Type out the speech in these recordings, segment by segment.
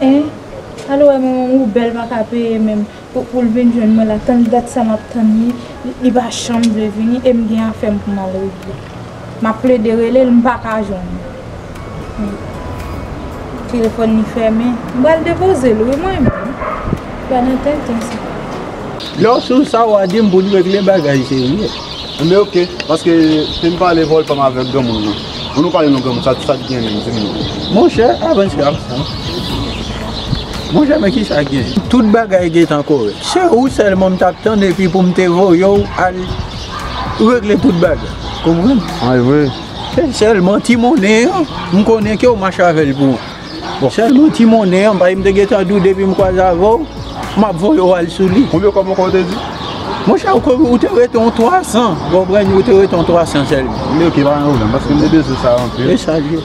Hein Al wè manmanw ou bèl paka peye menm poul vin jwenn mwen la tann dat sa map tann li li pa janm vle vini em gen afèm poum al regle map plede relel m paka jwenn li telefòn li fèmen m pral depozel wi mwen menm gad yon tenten sa. Lè w sou sa wa dim poun regle bagay serye. Anben ok, paske te m pale vol pa m avek granmoun nan. An nou pale non granmoun, sa t gen menm di m non. Monchè avance avance. Monchè men kisa k gen. Tout bagay gentan korek. Se ou selman m tap tann epi pou m te voye w al regle tout bagay. Konprann? An e vre? Se selman ti monnen an m konnen ke w mache avè l pou. Sèlman ti monnen an paske m te gentan di w depi m kwaze avè w, m ap voye w al sou li. Konbyen kòb ankò ou te di? Monchè, ou te rete yon 300, ou konprann, ou te rete yon 300 sèlman. Li oke, pa gen pwoblèm, paske m te bezwen sa anpil. E sa l ye.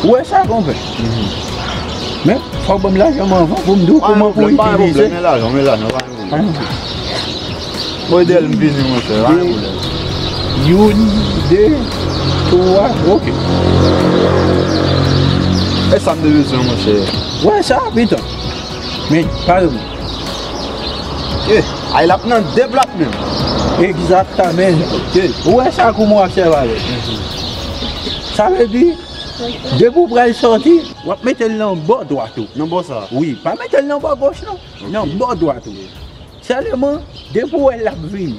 Ou wè sa konpè? Men, fò w ban m lajan m anvan pou m di w kouman pou w itilize. Pa gen pwoblèm, men lajan, men lajan, pa gen pwoblèm. Pa gen pwoblèm. Modèl m vini mwen fè, pa gen pwoblèm. Youn, de, twa, ok. E sa m te bezwen mwen fè? Wè sa, pito. Men, pa gen pwoblèm. Eh ay lap nan de plat menm. Egzatamen ou wè sa kouman w ap sèvi avè l. Sa vle di depi w pral sòti w ap mete l nan bò dwat ou nan bò sa wi pa mete l nan bò goch non nan bò dwat ou sèlman depi w wè l ap vini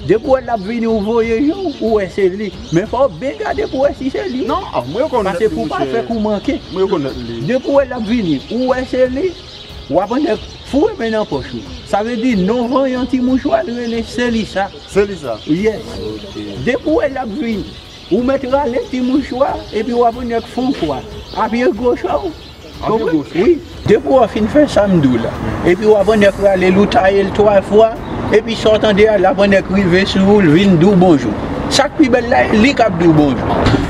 depi w wè l ap vini ou voye je w ou wè se li men fò w byen gade pou w wè si se li pase pou w pa fè kou manke depi w wè l ap vini ou wè se li. Ou aprann nèg foure men nan pòch ou. Sa vle di non vanyan ti mouchwa li rele se li sa. Se li sa? Yes. Depi ou wè l ap vini, ou mèt rale ti mouchwa epi ou aprann nèg fon kwa a pye goch a ou. An pye goch? Wi. Depi ou fin fè sa m di w la, epi ou aprann nèg rale l ou taye l twa fwa, epi sa w tande a l aprann nèg rive sou ou l vin di w bonjou. Sa k pi bèl la e li k ap di w bonjou.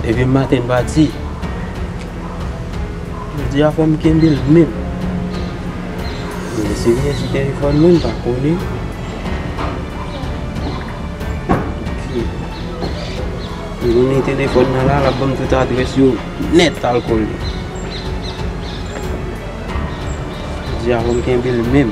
Depi maten m pati, jodi a fò m kenbe l menm. M vle siviye si telefòn mwen pa kole. M vle mete telefòn nan la, l ap ban m tout adrès yo nèt al kole. Jodi a fò m kenbe l menm.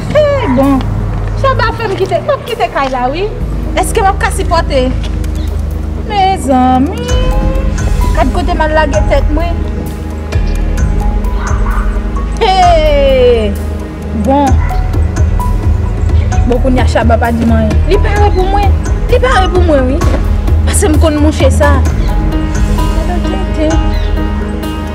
Eeh bon Shabba fèm kite map kite kay la wi Eske map ka sipòte Mezanmi Gad kote mal lage tèt mwen Eeh bon Bon kounya Shabba pa dim anyen Li pare pou mwen Li pare pou mwen wi Pasem konn mouche sa Tenten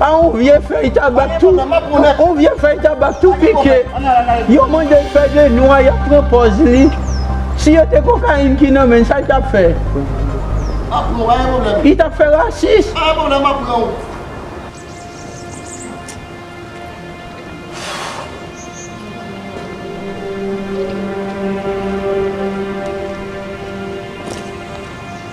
a yon vye fèy tabak tou yon vye fèy tabak tou pike yo mandel fè de nwa yap pran pòz li si yo te kokayin ki nan menn sal tap fè li tap fè rasis.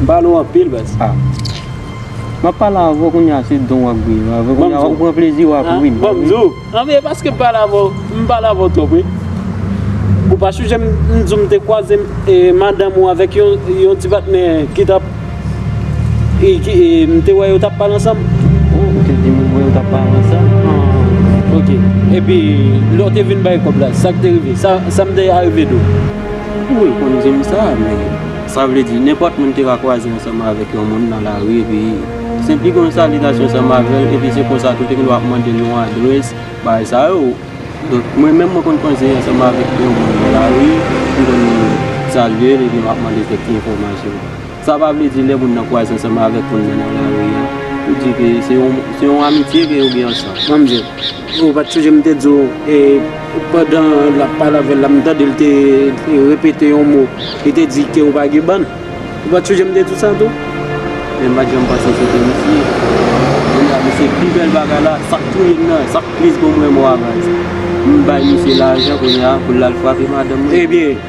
M pale w anpil baz. A. M ap pale avè w kounye a se don w ap gouye avè kounye a ou pran plezi w ap ri. Banm di w. An e paske m pale avè w m pale avè w twòp wi. Ou pa chonje m di w m te kwaze madanm ou avèk yon ti patnè ki t ap m te wè yo t ap pale ansanm. O ou te di m ou wè yo t ap pale ansanm. An ok epi lè w te vin bay kòb la sa k te rive sa m te arive di w. Ou reponn di m sa, men sa vle di nenpòt moun te ka kwaze ansanm avèk yon moun nan lari epi senpli gen yon salitasyon ansanm avè l epi se konsa tou te gen dwa ap mande l yon adrès, bagay sa yo. Donk mwen menm mwen konn kwaze ansanm avèk yon moun nan lari, m konn salye l epi m ap mande l kèk ti enfòmasyon. Sa pa vle di lè moun nan kwaze ansanm avèk moun nan nan lari a, ou di ke se yon, se yon amitye ke yo gen ansanm. An m di l, Ou pa t sonje m te di w, e, pandan l ap pale avè l la, m tande l te repete yon mo, li te di ke ou pa gen bann? Ou pa t sonje m te di w sa tou? Men m pa t janm panse se te misye. Kounye a, misye pi bèl bagay la, sa k touye m nan, sa k tris pou mwen, m wè avans. M bay misye lajan kounye a pou l al frape madanm mwen. Ebyen!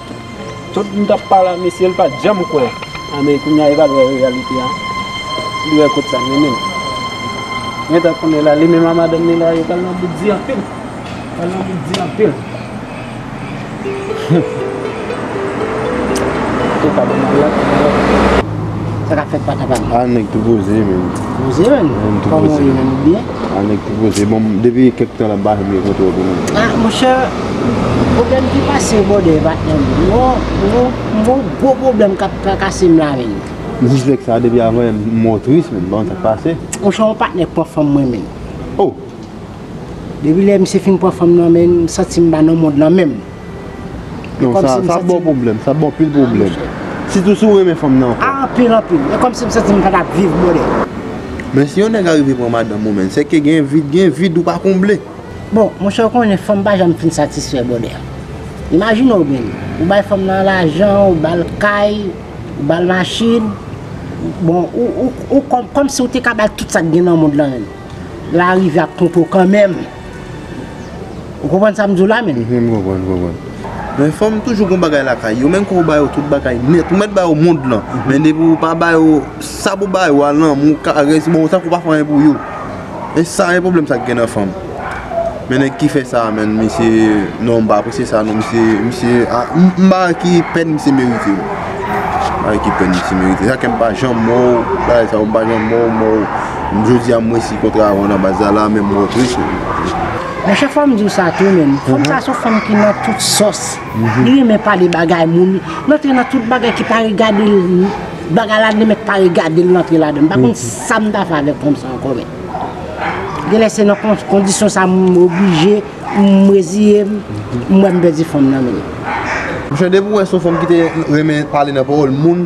Tout m tap pale a mesye l pat janm kwè a men kounya li pral wè reyalite a li wè kot sa mennen l gentan konnen la li menm a madanm li la yo pral nan bout di anpil yo pral nan bout di anpil humm. Ah nèg ti poze bon depi kèk tan lap bahe byen kontre w tou menm. Ah monchè pwoblèm ki pase yo bòdè e patnè m m gon gwo pwoblèm kap trakase m la menn. M sispèk sa depi avan yè m wè w tris menn banm sak pase. Monchè yon patnè k pran fanm mwen menn. Oh. Depi lè misye fin pran fanm nan menn m santi m pa nan mond lan menm. Non sa, sa bon pwoblèm, sa bon pil pwoblèm. Sitou si ou renmen fanm nan anfòm. Ah anpil anpil, e kòmsi m santi m pa tap viv brother. Men si yon nèg arive pran madanm ou menn, sèke gen vid, gen vid ou pa konble. Bon, monchè ou konnen fanm pa janm fin satisfè brother. Imajine w menn, ou bay fanm nan lajan, ou bal kay, ou bal machin, bon ou, ou, ou, kòmsi ou te ka bal tout sa k gen nan mond lan menm. Lè a rive ap twonpe w kanmenm. Ou konprann sa m di w la menm? M konprann, m konprann. Men fanm toujou gen yon bagay lakay yo, menm ke ou ba yo tout bagay nèt, ou mèt ba yo mond lan, men depi ou pa ba yo sa pou w ba yo a, lanmou, karès, bon, tankou ou pa fè anyen pou yo. E sa e pwoblèm sa ki gen nan fanm. Men nèg ki fè sa a menn, misye, non, m pa apresye sa non, misye, misye, a, m pa wè ki pèn misye merite. M pa wè ki pèn misye merite. Se sa kè m pa janm mò, bagay sa yo m pa janm mò, mò. Jodi a m resi kontra a nan baz la la men m rantre sou li. Mon chè fòm diw sa tou menn, fanm sa son fanm ki nan tout sòs, li renmen pale bagay moun, li antre nan tout bagay ki pa regadel, bagay la li mèt pa regadel li antre ladann, m pa konn sam ta fè avèk fanm sa ankò menn. Genlè se nan kondisyon sa m oblije, m reziyem, m wèm pèdi fanm nan menn. Mon chè depiw wè son fanm ki te renmen pale nan pawòl moun.